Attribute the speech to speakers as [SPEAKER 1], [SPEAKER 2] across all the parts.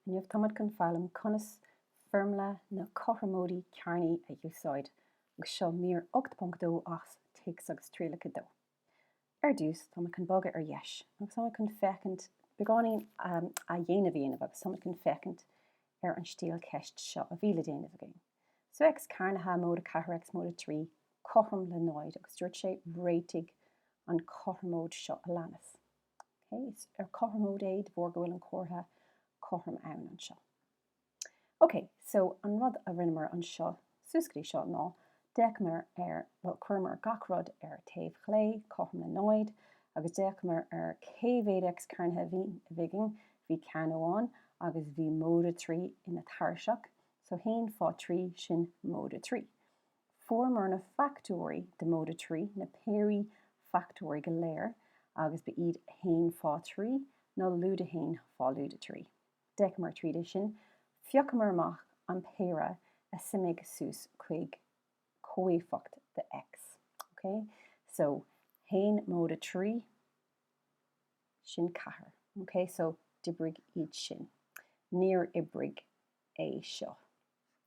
[SPEAKER 1] Inniu táimid chun foghlaim conas foirmle na cothromóidí cearnaí a úsáid agus seo mír 8.2 as Téacs agus Trialacha 2. Ar dtús táimid chun bogadh ar dheis agus táimid chun féachaint beagáinín athdhéanamh a dhéanamh agus táimid chun féachaint ar an stíl ceist seo a bhí le déanamh againn. So X cearnaithe móide 4 X móide 3 cothrom le 0 agus dúirt sé réitigh an cothromóid seo a leanas. Is ar cothromóid é de bharr go bhfuil an comhartha cothrom ann anseo. Ok, so an rud a rinneamar anseo suas go dtí seo ná d'fhéachamar ar, bhuel, chuireamar gach rud ar taobh chlé, cothrom le náid, agus d'fhéachamar ar cé mhéad X cearnaithe a bhí againn, bhí ceann amháin agus bhí móide trí ina tairiseach, so haon fá thrí, sin móide trí. Fuaireamar na fachtóirí de móide trí, na péirí fachtóirí go léir, agus ba iad haon fá thrí, nó lúide haon fá lúide trí. D'fhéachamar tríd é sin, phiocamar amach an péire a suimigh suas chuig comhéifeacht de X. Ok? So, haon móide trí, sin ceathair. Ok? So, d'oibrigh iad sin. Níor oibrigh é seo.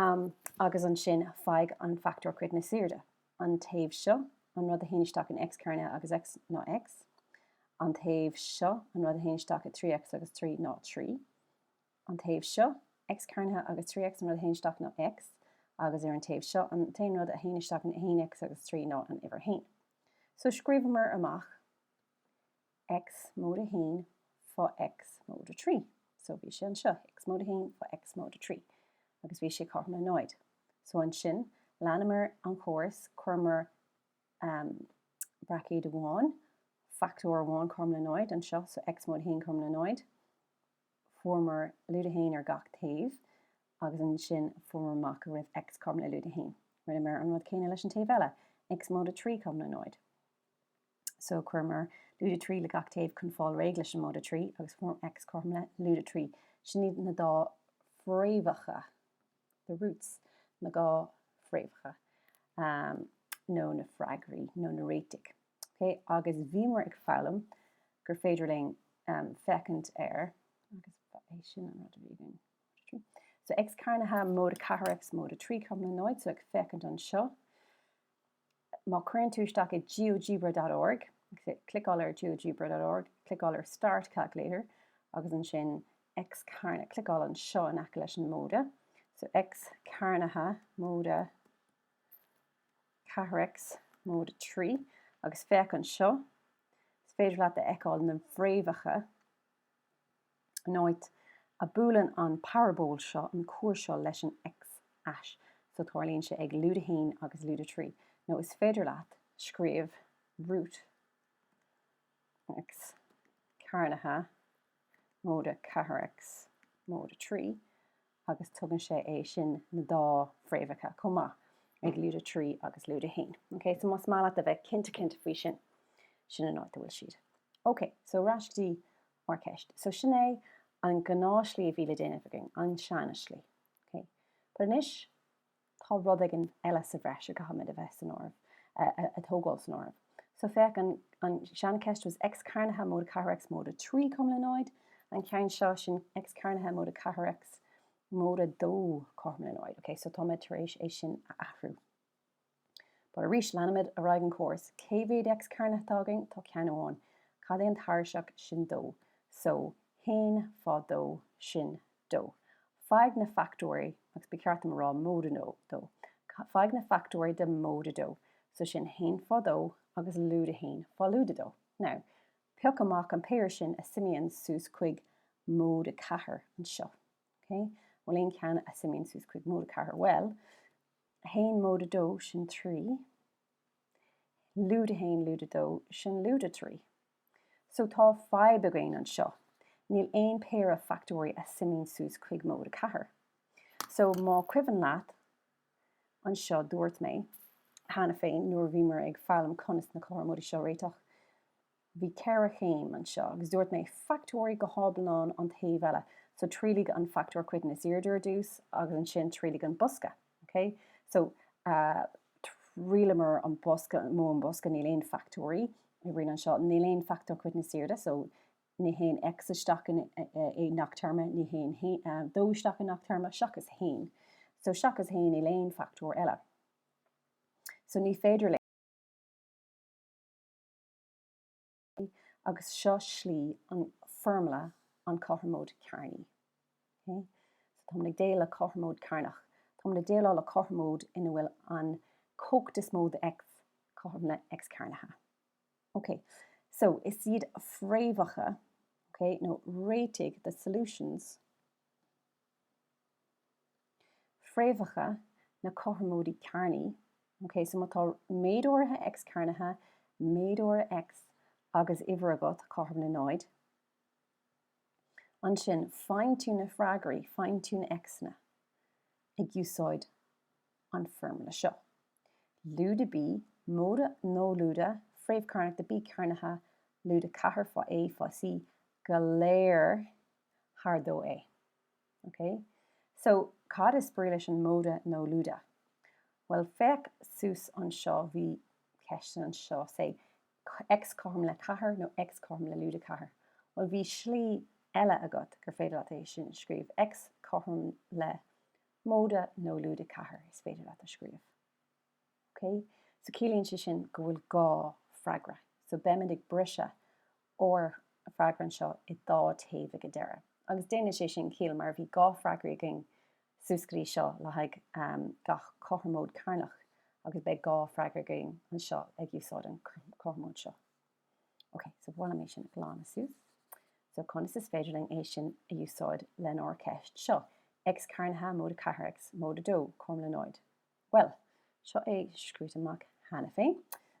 [SPEAKER 1] am agus ansin faigh an fachtóir coiteann is airde, an taobh seo, an rud a théann isteach in X cearnaithe agus X ná X, an taobh seo, an rud a théann isteach i 3X agus 3 ná 3, an taobh seo, X cearnaithe agus 3X, an rud a théann isteach ná X, agus ar an taobh seo, an t-aon rud a théann isteach in 1X agus 3 ná an uimhir 1. So scríobhamar amach. X móide haon fá X móide trí. So, bhí sé anseo, X móide haon fá X móide trí. Agus bhí sé cothrom le náid. So, ansin, leanamar an chóras, chuireamar, ahem, braicéad amháin, fachtóir amháin cothrom le náid anseo, so X móide haon cothrom le náid. Fuaireamar lúide haon ar gach taobh. Agus ansin, fuaireamar amach go raibh X cothrom le lúide haon. Rinneamar an rud céanna leis an taobh eile, X móide trí cothrom le náid. so chuireamar lúide trí le gach taobh chun fáil réidh leis an móide trí agus fuaireamar X cothrom le lúide trí. Sin iad na dá fréamhacha, the roots, na dhá fréamhacha nó na freagraí nó na réitigh. Ok, agus bhíomar ag foghlaim gur féidir linn féachaint ar, agus ba é sin an rud a bhí againn. So X cearnaithe, móide ceathair, X móide trí cothrom le náid, so ag féachaint anseo, Má cuireann tú isteach i geogebra dot org, cliceáil ar geogebra dot org, cliceáil ar start calculator agus ansin X cearn, cliceáil anseo in aice leis an móide. So X cearnaithe móide 4X móide 3 agus féach anseo. Is féidir leat a fheiceáil na bhfréamhacha. an áit a buaileann an parabóil seo an cuar seo leis an x-ais so tarlaíonn sé ag lúide 1 agus lúide 3 nó is féidir leat scríobh root x cearnaithe móide 4x móide 3 agus tugann sé é sin na dá fréamhacha chomh maith ag lúide 3 agus lúide 1. Ok, so más maith leat a bheith cinnte cinnte faoi sin, sin an áit a bhfuil siad. Ok, so ar ais go dtí ár gceist. So sin é an gnáthshlí a bhí le déanamh againn, an seanslí. Ok, but anois, tá rud éigin eile sa bhreis a gcaithfimid a bheith san áireamh, a thógáil san áireamh. So féach an seancheist was X cearnaithe móide ceathair X móide trí cothrom le náid, an ceann seo, sin X cearnaithe móide ceathair X móide dó cothrom le náid, okay? So táimid tar éis é sin a athrú. But arís leanaimid ar aghaidh an córas, cé mhéad X cearnaithe atá againn? Tá ceann amháin. Cad é an tairiseach? Sin dó. So haon fá dó, sin dó. Faigh na factóirí, agus ba cheart dom a rá móide dó, faigh na factóirí de móide dó, so sin haon fá dó agus lúide haon fá lúide dó. Now, pioc amach an péire sin a suimíonn suas chuig móide ceathair anseo. OK? Bhfuil aon cheann a suimíonn suas chuig móide ceathair? Bhuel, haon móide dó, sin trí. Lúide haon lúide dó, sin lúide trí. So tá fadhb againn anseo. Níl aon péire factóirí a suimíonn suas chuig móide ceathair. So má cuimhin leat anseo dúirt mé cheana féin nuair a bhíomar ag foghlaim conas na cothromóidí seo a réiteach, bhí ceithre chéim anseo agus dúirt mé factóirigh go hiomlán an taobh eile. So triailigh an factóir coiteann is airde ar dtús agus ansin triailigh an bosca. OK so thriaileamar an bosca modh an bosca níl aon factóirí a oibríonn anseo níl aon factóir coiteann is airde so ní théann X isteach i ngach téarma ní théann dó isteach i ngach téarma seachas haon so seachas haon níl aon factóir eile so ní féidir agus seo slí an foirmle an cothromóid cearnaí. Ok, so táimid ag déal le cothromóid cearnach. Táimid ag déileáil le cothromóid ina bhfuil an cumhacht is mó de X cothrom le X cearnaithe. Ok, so is iad fréamhacha, ok, nó réitigh, the solutions, fréamhacha na cothromóide cearnaí. OK, so má tá méid áirithe X cearnaithe, méid áirithe X agus uimhir agat, cothrom le náid, ansin faigheann tú na freagraí, faigheann tú na X-anna, ag úsáid an foirmle seo. Lúide B, móide nó lúide fréamh chearnach de B cearnaithe, lúide ceathair fá A fá C go léir, thar dó A. Ok, so cad is brí leis an móide nó lúide? Bhuel, féach suas anseo, bhí ceist anseo, say, X cothrom le ceathair nó X cothrom le lúide ceathair. Bhuel, bhí slí eile agat gur féidir leat é sin a scríobh, X cothrom le móide nó lúide ceathair, is féidir leat a scríobh. OK? So ciallaíonn sé sin go bhfuil dhá freagra. So beimid ag briseadh ár bhfreagra anseo i dhá taobh ag an deireadh. Agus déanann sé sin ciall mar bhí dhá freagra againn suas go dtí seo le haghaidh gach cothromóid cearnach agus beidh dhá freagra againn anseo ag úsáid an cothromóid seo. OK, so ba mhaith liom é sin a ghlanadh suas. So conas is féidir linn é sin a úsáid lenár ceist seo? X cearnaithe móide 4 X móide 2, cothrom le náid. Bhuel, seo é scríte amach cheana féin.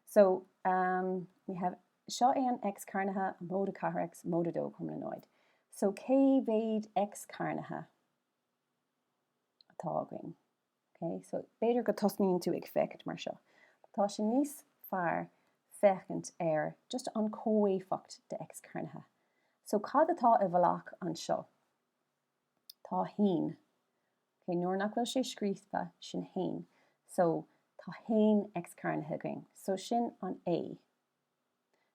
[SPEAKER 1] So, um, we have, seo é an X cearnaithe, móide 4 X, móide 2 cothrom le náid. So, cé mhéad X cearnaithe atá againn? Okay, so, b'fhéidir go tosnaíonn tú ag féachaint mar seo. Tá sé níos fearr féachaint ar just an comhéifeacht de X cearnaithe. So, cad atá i bhfolach anseo? Tá haon. Ok, nuair nach bhfuil sé scríofa, sin haon. So, tá haon x cearnaithe againn. So, sin an A.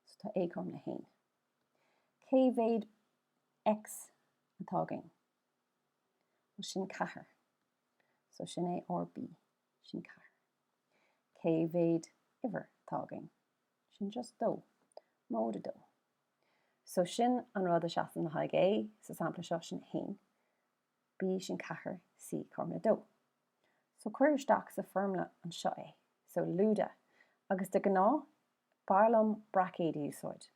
[SPEAKER 1] So, tá A cothrom le haon. Cé mhéad x atá againn? Bhuel, sin ceathair. So, sin é ár B. Sin ceathair. Cé mhéad uimhir atá againn? Sin just dó. Móide dó. So sin an rud a seasann le haghaidh A sa sampla seo, sin 1, B sin 4, C cothrom le 2. So cuir isteach sa foirmle anseo é. So lúide, agus de ghnáth b'fhearr liom braicéid a úsáid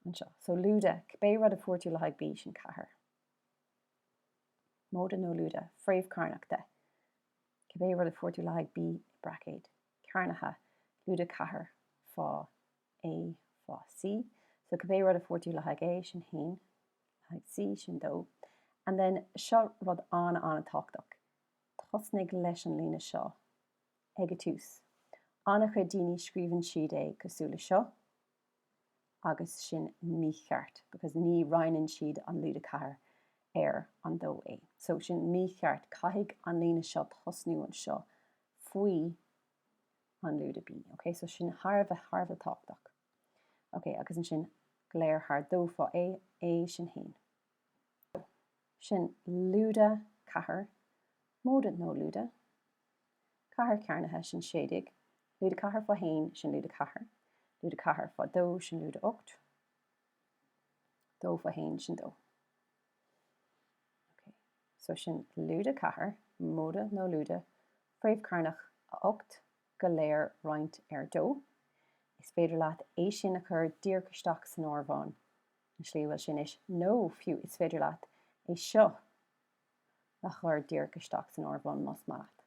[SPEAKER 1] anseo. So lúide, cibé rud a fuair tú le haghaidh B sin 4. Móide nó lúide, fréamh cearnach de. Cibé rud a fuair tú le haghaidh B, braicéid, cearnaithe, lúide 4 fá A fá C, So cibé rud a fuair tú le haghaidh A, sin haon le haghaidh C, sin dó. And then seo rud an-an-tábhachtach. Tosnaigh leis an líne seo ag a tús. An-chuid daoine scríobhann siad é cosúil le seo agus sin mícheart because ní roinneann siad an lúide 4 ar an 2 A. So sin mícheart, caithfidh an líne seo tosnú anseo faoi An lúide B. Ok so sin thar a bheith thar a bheith tábhachtach. Ok agus ansin go léir thar dó fá A, A sin haon. So sin lúide ceathair móide nó lúide ceathair cearnaithe sin sé déag. Lúide ceathair fá haon sin lúide ceathair. Lúide ceathair fá dó sin lúide ocht. Dó fá haon sin dó. Ok, so sin lúide 4, móide nó lúide fréamh chearnach 8, go léir roinnt ar 2. Is féidir leat é sin a chur díreach isteach san áireamhán, an slí a bhfuil sé anois, nó fiú is féidir leat é seo a chur díreach isteach san áireamhán más maith leat.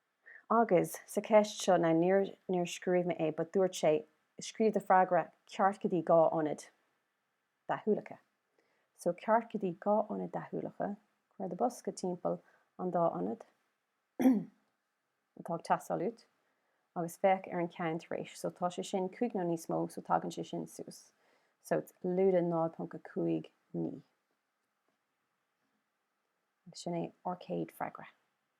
[SPEAKER 1] Agus, sa cheist seo, now níor, níor scríobh mé é but dúirt sé, scríobh do freagra ceart go dtí dhá ionad deachúlacha. So ceart go dtí dhá ionad deachúlacha, cuir do bosca timpeall an dá ionad atá ag teastáil uait agus féach ar an ceann tar éis, so tá sé sin cúig nó níos mó so tagann sé sin suas, so it's lúide 0.59. Agus sin é ár céad freagra.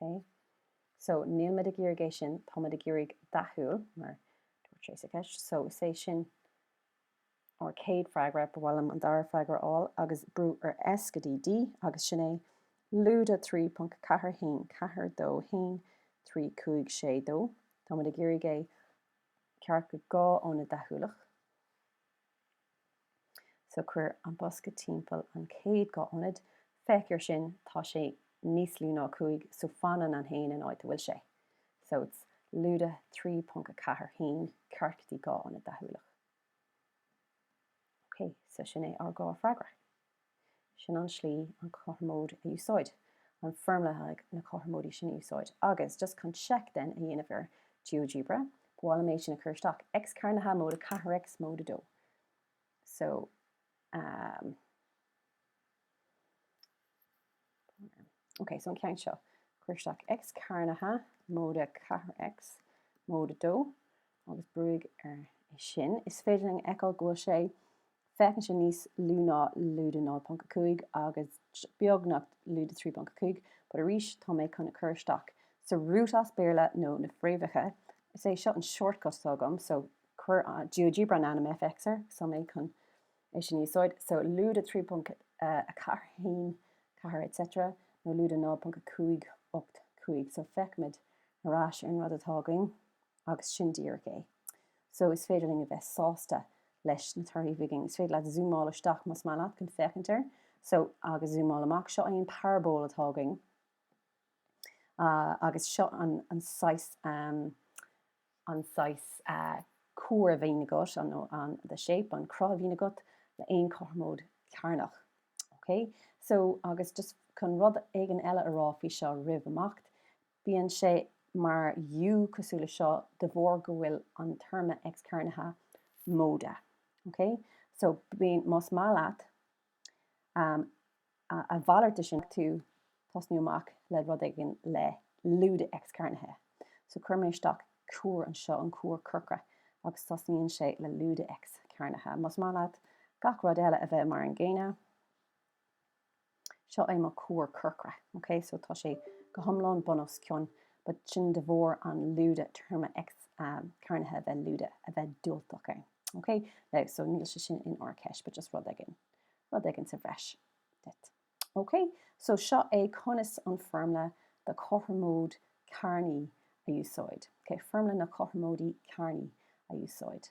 [SPEAKER 1] OK? So, níl muid ag iarraidh é sin, tá muid ag iarraidh deachúil, mar dúirt sé sa cheist. So, is é sin ár céad freagra, ba mhaith liom an dara freagra a fháil, agus brú ar S go dtí D, agus sin é, lúide 3.41, ceathair, dó, haon, trí, cúig, sé, dó, tá muid ag iarraidh é ceart go dhá ionad deachúlach. So cuir an bosca timpeall an chéad dhá ionad, féach ar sin, tá sé níos lú ná 5 so fanann an 1 in áit a bhfuil sé. So it's lúide 3.41 ceart go dtí dhá ionad deachúlach. OK, so sin é ár dhá freagra. sin an slí an cothromóid a úsáid, an foirmle le haghaidh na cothromóidí sin a úsáid, agus just chun seic, then, a dhéanamh ar GeoGebra, ba mhaith liom é sin a chur isteach, X cearnaithe móide 4 X móide 2. So, um. Ok, so an ceann seo. Cuir isteach X cearnaithe móide 4X móide 2 agus brúigh ar é sin. Is féidir linn a fheiceáil go bhfuil sé, féachann sé níos lú ná lúide 0.5 agus beagnach lúide 3.5, but arís tá mé chun cur isteach so root as Béarla nó na fréamhacha. Is é seo an shortcut atá agam, so chuir GeoGebra an ainm fx air, so tá mé chun. é sin a úsáid. So lúide 3.41 4 et cetera nó lúide 0.5 8 5 so féachaimid ar ais ar an rud atá againn agus sin díreach é. So is féidir linn a bheith sásta leis na torthaí a bhí againn. Is féidir leat zúmáil isteach más maith leat chun féachaint air. So agus zúmáil amach, seo é an parabóil atá againn. Uh, agus seo an, an saghas um, an saghas cuar a bhíonn agat, an the shape, an cruth a bhíonn agat le haon chothromóid chearnach. Ok? So, agus just chun rud éigin eile a rá faoi seo roimh imeacht, bíonn sé mar U cosúil le seo de bharr go bhfuil an téarma x-cearnaithe móide. Ok? So, bíonn, más maith leat, A mhalairt de sin, má tá tú tosnú amach le rud éigin le lúide x-cearnaithe. So chuir mé isteach cuar anseo, an cuar corcra, agus tosnaíonn sé le lúide x-cearnaithe. Más maith leat gach rud eile a bheith mar an gcéanna, seo é mo cuar corcra. Ok, so tá sé go hiomlán bun-os-cionn, but sin de bharr an lúide téarma x-cearnaithe a bheith lúide, a bheith diúltach ann. Ok, now, so níl sé sin inár gceist, but just rud éigin, rud éigin sa bhreis duit. Ok, so seo é conas an foirmle do chothromóid chearnach a úsáid. Ok, foirmle na cothromóide cearnaí a úsáid.